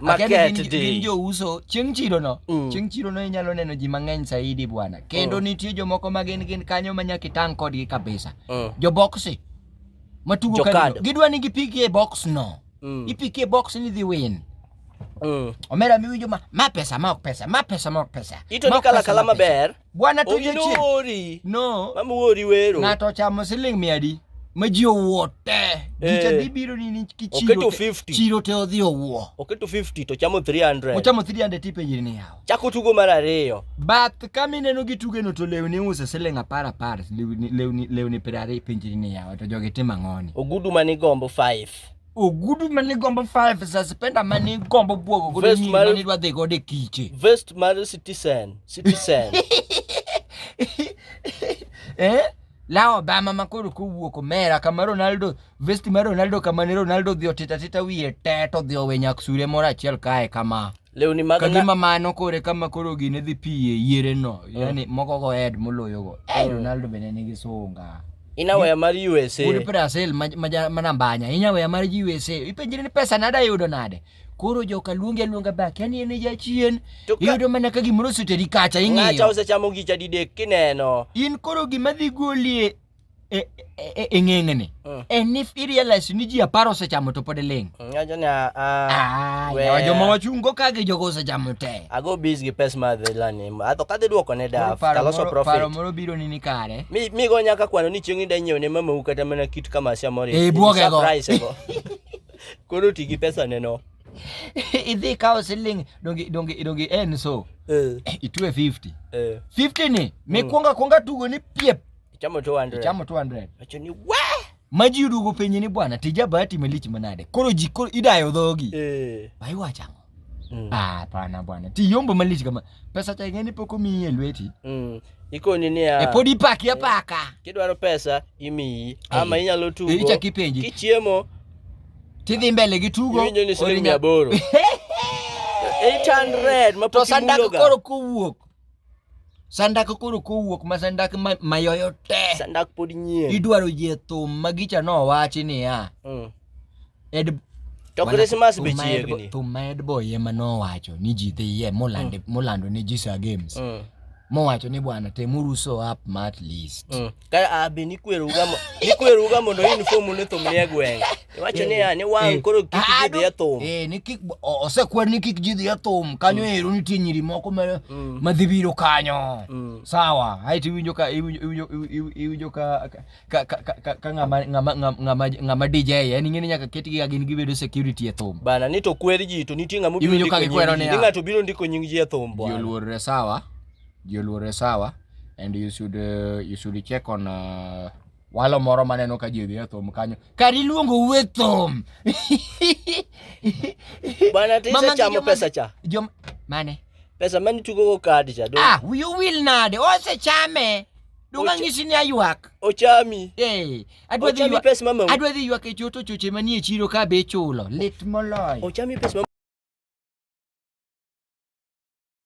Market gin, day. gin jouso chieng' chirono mm. chieng' chirono inyalo neno ji mang'eny saidi bwana kendo mm. nitie jomoko ma gin gin kanyo ma nyaka itang' kodgi kabisa mm. joboksi matugo kanyo gidwa ni gipiki e box no mm. ipiki e box ni dhi win mm. omera miwinjo ma ma pesa ma ok pesa ma pesa ma ok pesa ito ni kala kala maber Bwana to jachien. Oginori. No. Mama wori wero. Ng'ato ochamo siling mia adi? Ma ji owuo te. Gicha eh. dhi biro ni ni kichiro. Oketo 50. Chiro te odhi owuo. Oketo 50 to chamo 300. Ochamo 300 tipe yiri ni yawo. Chako tugo mar ariyo. Bath kama ineno gi tuge no to lewni uso siling apar apar. Lewni lewni lewni pirari pinjiri ni yawo. To jogi tim ang'oni. Ogudu mani gombo 5. ogudu mane gombo five suspender mane gombo bwogo godo Vest nyiri mar- mane dwa dhi godo e kiche vest mar citizen citizen eh? la obama makoro kowuok omera kama ronaldo vesti mar ronaldo kama ne ronaldo dhi otitatita wiye te to dhi owe nyak sure moro achiel kae kama lewni mag ka gima mano kore kama koro gine dhi piye yiere no mm. yani moko go head moloyo go eh mm. Ronaldo bende nigi sunga inawaya mar USA wuod Brazil manambanya inawaya mar USA ipenjire ni pesa nada yudo nade koro joka luongi aluonga bak yani en jachien iyudo mana ka gimoro oseteri kacha ing'iyo ng'acha osechamo gicha didek kineno in koro gima dhi golie e, e, e, e ng'eng'ni mm. en if irealize ni ji apar osechamo to pod iling' mm, ah, ah, joma wachungo ka gi jogo osechamo te ago bis gi pes mar dhelani atho kadhi dwoko ne daf taloso profitparo moro biro ni ni kare mi, mi go nyaka kwano ni chieng' ida nyiew ne mamau kata mana kit kamasia moro e bwogego koro ti gi pesa neno idhi kawo siling dongi dongi dongi en so eh. itwe 50 50 eh. ni mikwonga mm. kwonga tugo ni piep Ichamo 200. Ichamo 200. Acho ni we. Maji udugo penye ni bwana tija bahati imelich manade. Koro ji koro idayo dhogi. Eh. Bai wacha ngo. Mm. Ah, hapana bwana. Ti yombo malich kama pesa cha ngeni poko mi ye lweti. Mm. Iko nini ya? E podi pak ya eh, paka. Eh. Kidwaro pesa imi eh. ama inyalo tugo. Icha kipenji. Kichiemo. Tidhi mbele gi tugo. Iwinjo ni shilingi 800 mapok imuloga. To sanda koro kowuok. Sandak koro kowuok ma sandak mayoyo te. Sandak pod nyien. Idwaro yie thum ma gicha no wachi niya. Mm. Ed To Christmas be chiegni. Thum ma Ed Boy ema nowacho ni ji dhi yie molando mm. molando ne ji Sir Games. Mm. Mowacho ni bwana temuru so up ma at least. Mm. ka abi nikweruga mo- nikweruga mondo uniform ni thum nie gweng' iwacho ni ya ni wang' Eh. koro kik Ah, gidhi e do- thum eh, ni kik o- osekwer ni kik ji dhi e thum kanyo ero nitie nyiri moko ma- Mm. madhi biro kanyo Mm. sawa aeto iwinjo ka iwinjo- iwinjo- iw- iwinjo ka ka- ka- ka- ka- ka ng'ama- ng'ama- ng'ama- ng'ama ng'ama DJ en ing'e ni nyaka ketgi ka gin gibedo security e thum bana ni to kwer ji to nitie ng'ama obiro Iwinjo ndiko ka gikwero nying ji niya. ni ng'ato biro ndiko nying ji e thum ji bwana oluorre sawa ji oluore sawa and you should, uh, you should check on uh, walo moro maneno ka ji odhi e thum kanyo kar iluongo uwe thum bana tisechamo pesa cha jom mane pesa mane tugogo kadi cha ah, you will nade osechame Donga ngisi ni aywak. Ochami. Eh. Adwa dhi ywak. Pes mama. Adwa dhi ywak e choto choche manie chiro ka be chulo. Lit moloyo. Ochami pes mama.